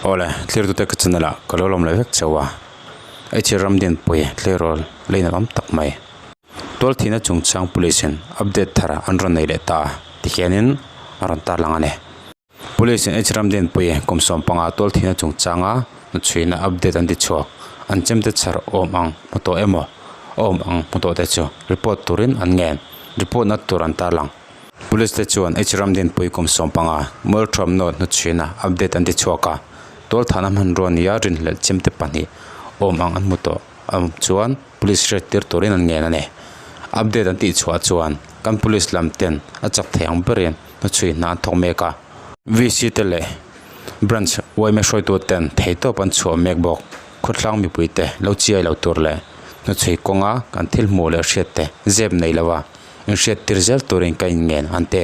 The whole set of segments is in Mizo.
Awle, thlirtute ka channel ah ka lo lawm leh vek chauh a, i chhir ram din pawi tleirawl la in awm tak mai. Tual thihna chungchang Police in update thar an rawn nei leh ta a tihian in a rawn tarlang a ni. Police in H ram din pawi kum sawm panga tual thihna chungchang a nu chhuina update an ti chhuak, an chemte chhar awm ang hmu tawh emaw awm ang hmu tawh te chu report turin an ngen, report na tur an tarlang. Police te chuan H. Ramdin Pui kum sawm panga Mualthuam North hnu chhina update an ti chhuak a, Tualthana hmanrua nia rin hlelh chimte pahnih awm ang an hmu tawh ang chuan Police hriat tir turin an ngen a ni. Update an tih chhuah chuan kan Police lam ten a chak thei ang berin hnu chhui hna an thawk mek a, VC te leh Branch uaime hruaitu ten thei tawp an chhuah mek bawk, khawtlang mipuite lo chiai lo tur leh hnu chhui kawnga kan thil hmuh leh hriat te zep nei lova, inhriat tir zel turin ka inngen an ti.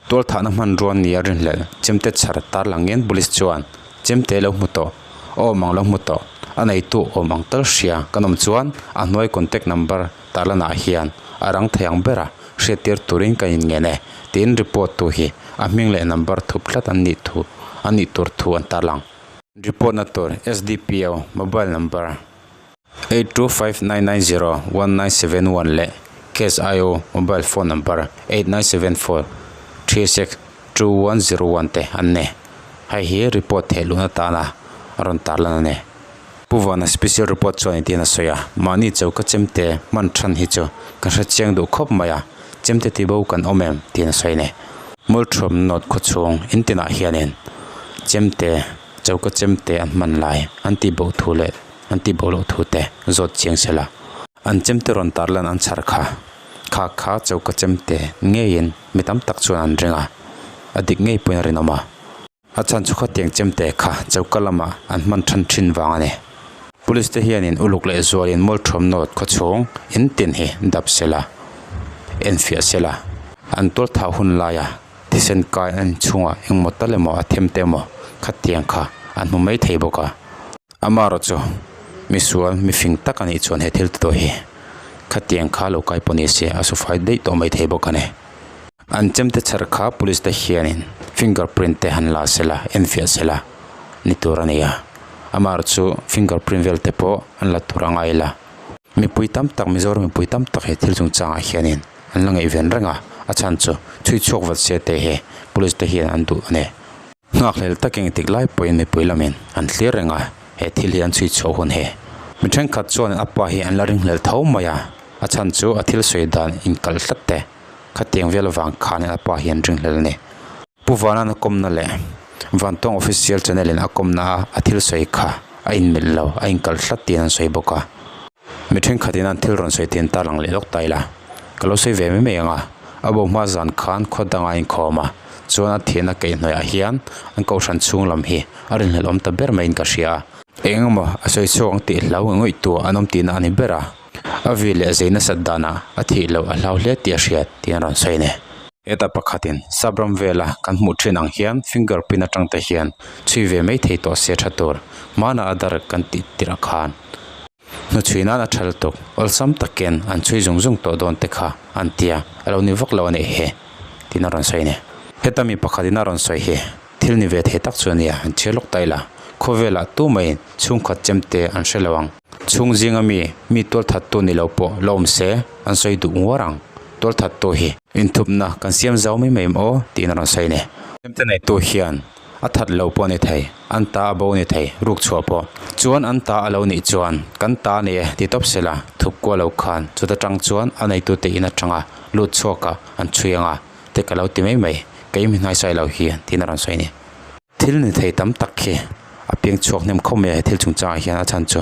Tualthahna hmanrua nia rinhlelh chemte chhar tarlang ngen Police chuan, Chemte lo hmu tawh, awm ang lo hmu tawh, a neitu awm ang tal hria kan awm chuan a hnuai contact number tarlanah hian a rang thei ang ber a, hriat tir turin ka inngen e tiin report tu hi a hming leh number thup tlat an nih thu an nih tur thu an tarlang. Report na tur, SDPO, mobile number. Eight two five nine nine zero one nine seven one leh CashIO mobile phone number eight nine seven four three six two one zero one te an ni. Hei hi report theih luh na tana a rawn tar lan a ni. Pu Vana special report chu a ni tiin a sawi a, mahni cho ka chem te hman than hi chu ka hre chiang duh khawp mai a, chem te ti bo kan awm em tiin a sawi a ni. Mawlthawmna note khawchhung in tinah hianin chem te cho ka chem te an hman lai an tih boh thu leh an ti boh loh thu te zawt chiang se la, an chem te rawn tarlan an chhar kha, khak kha cho ka chem te ngeiin mi tam tak chuan an ring a, a dik ngei pawhin a rinawm a, a chhanchhu kha tiang chem te kha cho ka lama an hman than thin vang a ni. Police te hianin uluk leh zualin mawlthawm note khawchhung in tin hi dap se la, en fiah se la, an tualthau hun laia thisen kai an chhunga engmaw tal emaw a them te emaw khatiang kha a hnu mai thei bawk a, Amaro chu misual mifing tak a nih chuan he thil te tawh hi khatiang kha lo kai pawh ni se a sufai daih tawh mai thei bawk a ni. An chem te chher kha police te hianin finger print te han la sela enfiah sela ni tur a ni a, Amaro chu finger print vel te pawh an la tur a ngai la. Mipui tam tak Mizoram mipui tam tak hi thil chung changah hianin an la ngaih ven reng a, a chhan chu chhui chhuak vat se te hi police te hian an duh a ni. Nghakhlel tak engtik lai pawhin mipui lamin an thlir reng a, he thil hi an chhui chho hun hi. Mi thenkhat chuan a pa hi an la ringhlel tho mai a, a chhan chu a thil sawi dan inkalh tlat te. Khatiang vel avang khanin a pa hi an ringhlel a ni. Pu Vanan a kawmna leh vantawng official channel in a kawmna a thil sawi kha a inmelh lo, a inkalh tlat tiin an sawi bawk a. Mi thenkhatin an thil rawn sawi thin ta lang leh lawk ta ila, ka lo sawi ve mai mai ang a, a bo hma zan khan khaw danga a inkhawm a, chuan a thianna keih hnuaiah hian an kohhran chhung lam hi a rin hlelh awm ta ber maiin ka hria a, eng emaw a sawi chhuak ang tih hlau ngawih tu an awm tihna a ni ber a, a vi leh zei nasat danah a thih loh a hlau hle tih a hriat tiin a rawn sawi ne. Heta pakhatin Sapram vela kan hmuh thin ang hian finger print atangte hian chhui ve mai thei tawh se tha tur hmana a dar kan tih tirh khan. hnu chhui nan a thal tuk awlsam takin an chhui zung zung tawh dawn te kha an ti a, a lo ni vak lo a nih hi tiin a rawn sawi a ni. Heta mi pakhat in a rawn sawi hi thil ni ve thei tak chu a ni a, an chhiar lawk ta ila khawvelah tu mai in chhungkhat chem te an hre lo ang. Chhung zing a mi mi tual that tu ni lo pawh la awm se an sawi duh nguar ang, tual that tu hi. Inthupna kan siam zau mai mai maw tiin a rawn sawi a ni. Hemte nei tu hian A that lo pawh ni thei, an ta a bo ni thei ruk chhuah pawh. Chuan an ta a lo nih chuan, Kan ta a ni e, ti tawp se la, thup kuah lo khan chuta tang chuan a neitute in atanga lut chhuakah an chhui ang a, te ka lo ti mai mai, ka in mi hnaisai lo hi, tiin a rawn sawi a ni. Thil ni thei tam tak hi a piang chhuak hnem khawp mai a he thil chungchangah hian a chhan chu,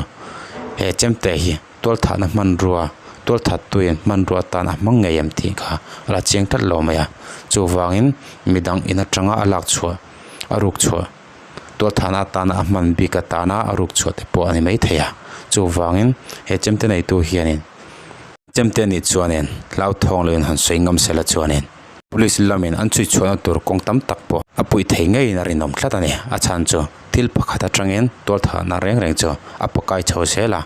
he chemte hi tualthahna hmanrua tualthattuiin hmanrua atan a hmang ngei ang tih kha a la cheng tlat lo mai a chuvangin midang in atanga a lak chhuah a ruk chhuah tualthahna atana a hman bik atana a ruk chhuah te pawh a ni mai thei a chuvangin he chemte neitu hianin chemte nih chuanin hlauthawng lo in han sawi ngam sela chuanin. Police lamin an chhuitchhuahna tur kawng tam tak pawh a puih thei ngeiin a rinawm tlat a ni. A chhan chu thil pakhat atangin tualtharna reng reng chu a pakai chho zel a,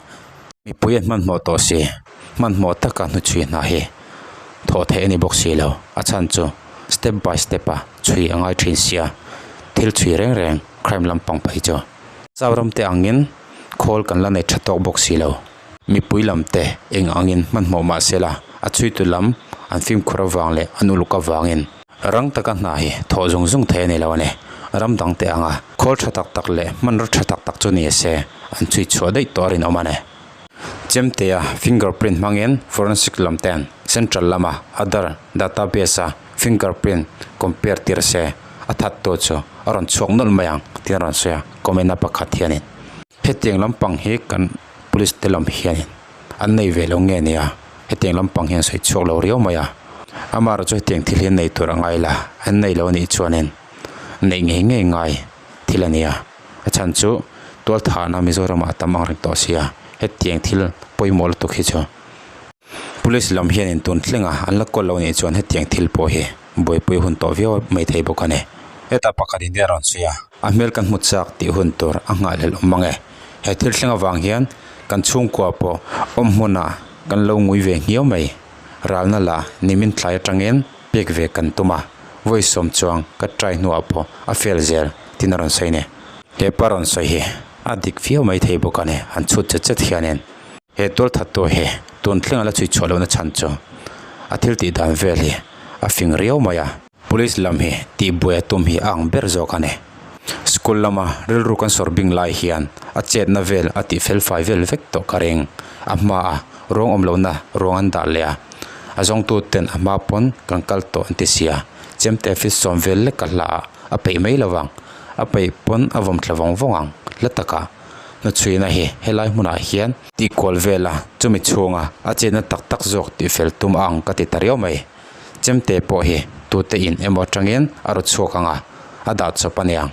mipui an hmanhmawh tawh si, hmanhmawh taka hnuchhui hna hi thawh theih a ni bawk si lo. A chhan chu step by step a chhui a ngai thin si a, thil chhui reng reng crime lam pangpei chu. Zauramte angin khawl kan la nei tha tawk bawk si lo. Mipui lam te eng angin hmanhmawh mah sela, a chuitu lam an fimkhur avang leh an uluk avangin. Rang taka hna hi thawh zung zung thei a ni lo a ni. Ram dang te anga khawl tha tak tak leh hmanraw tha tak tak chu ni se, an chhui chhuah daih tawh a rinawm a ni. Chemteia fingerprint hmangin forensic lam ten central lama Aadhaar database-a fingerprint compare tir se, a that tur chu a rawn chhuak nawlh mai ang, tiin a rawn sawi a, comment-a pakhat hianin. Hetiang lampang hi kan. Police te lam hianin an nei ve lo nge nia, hetiang lampang hian sawi chhuak lo riau mai a, Amara chu hetiang thil hi nei tur a ngai la, an nei lo nih chuanin neih ngei ngei ngai thil a nia, a chhan chu tualtha na Mizoramah a tam ang reng tawh sia, hetiang thil pawimawh lutuk hi chu. Police lam hian in tun thleng a, an la call lo nih chuan hetiang thil pawh hi buaipui hun tawh viau mai thei bawk a ni. Heta pakhat in te a rawn sawi a, a hmel kan hmu chak tih hun tur a ngahlel awm ange. He thil thleng avang hian kan chhungkua pawh awm hmuna kan lo ngui ve nghiau mai. Ralna la nimin thlai atangin pek ve kan tum a, vawi sawm chuang ka try hnuah pawh a fail zel, tina rawn sawi a ni. Hepa rawn sawi hi. A dik fiau mai thei bawk a ni. An chhut chet chet hianin. He tualthattu hi tun thlengah la chhuihchhuah lohna chhan chu a thil tih dan vel hi a fing riau mai a. Police lam hi tihbuai a tum hi a ang ber zawk a ni. School lama rilru kan sawr bing lai hian a chetna vel a tih felfai vel vek tawh ka ring. A hmaah rawng awm lohna ruang an dah leh a, a zawngtuten a hma pawn kan kal tawh an tisia chem te fist sawm vel lek ka hla ah a peih mai lovang A peih pawn a vawm thla vawng vawng ang. Hla taka hnu chhuina hi helai hmunah hian. Tih kual vela chumi chhunga a chenna tak tak zawk tih fel tum ang ka ti ta riau mai. Chemte pawh hi tute in emaw atangin a ru chhuak ang a, a dah chawp a niang.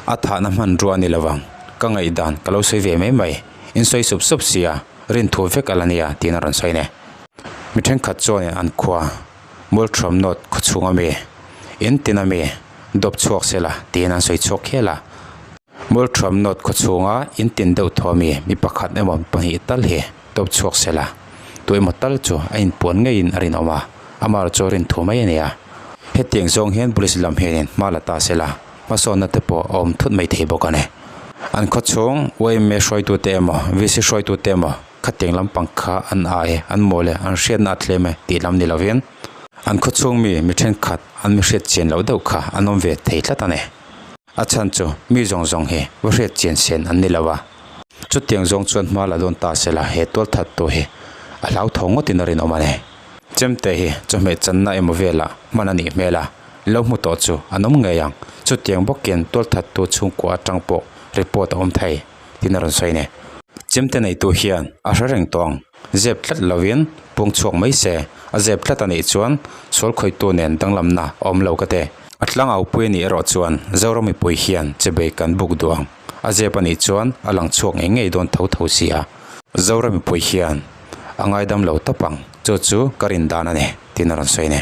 A thahna hmanrua ni lovang ka ngaihdan ka lo sawi ve mai mai. In sawi sup sup sia, rin thu vek ala nia tiin a rawn sawi ne. Mi thenkhat chuan in an khua. Multrum note khawchhung a mi? Entin a mi? Dawp chhuak sela tiin an sawi chhuak khel a. Multrum note khawchhunga entin deuh thaw a mi? Mi pakhat emaw mi pahnih tal hi dawp chhuak sela tu emaw tal chu a inpuan ngeiin a rinawm a. Amar chu a rin thu mai a nia. Hetiang zawng hian police lam hian in hma la ta sela hmasawnna te pawh a awm thut mai thei bawk a ni. An khawchhung YMA hruaitute emaw VC hruaitute emaw? Khateng lampang kha an ai e, an mawi le, an hriatna a tlem e tih lam ni lovin, an khawchhung mi mi thenkhat an mi hriatchian loh deuh kha an awm ve thei tlat a ni. A chhan chu mi zawng zawng hi va hriatchian sen an ni lo va, chutiang zawng chuan hma la dawn ta se la he tualthat tu hi a hlauthawng ngawtin a rinawm a ni. Chemte hi chawhmeh channa emaw velah hman a nih hmel a, lo hmu tawh chu an awm ngei ang, chutiang bawkin tualthat tu chhungkua atang pawh report a awm thei. tiin a rawn sawi a ni. Chimte neitu hian a hre reng tawh ang, zep tlat lovin pung chhuak mai se, a zep tlat a nih chuan sual khawitu nen danglamna a awm lo ka ti. A tlanga upui a nih erawh chuan Zoram mipui hian che bei kan buk duh ang, a zep a nih chuan a lang chhuak ngei ngei dawn tho tho si a. Zoram mipui hian a ngaidam lo tawp ang, chu chu ka rin dan a ni, tiin a rawn sawi a ni.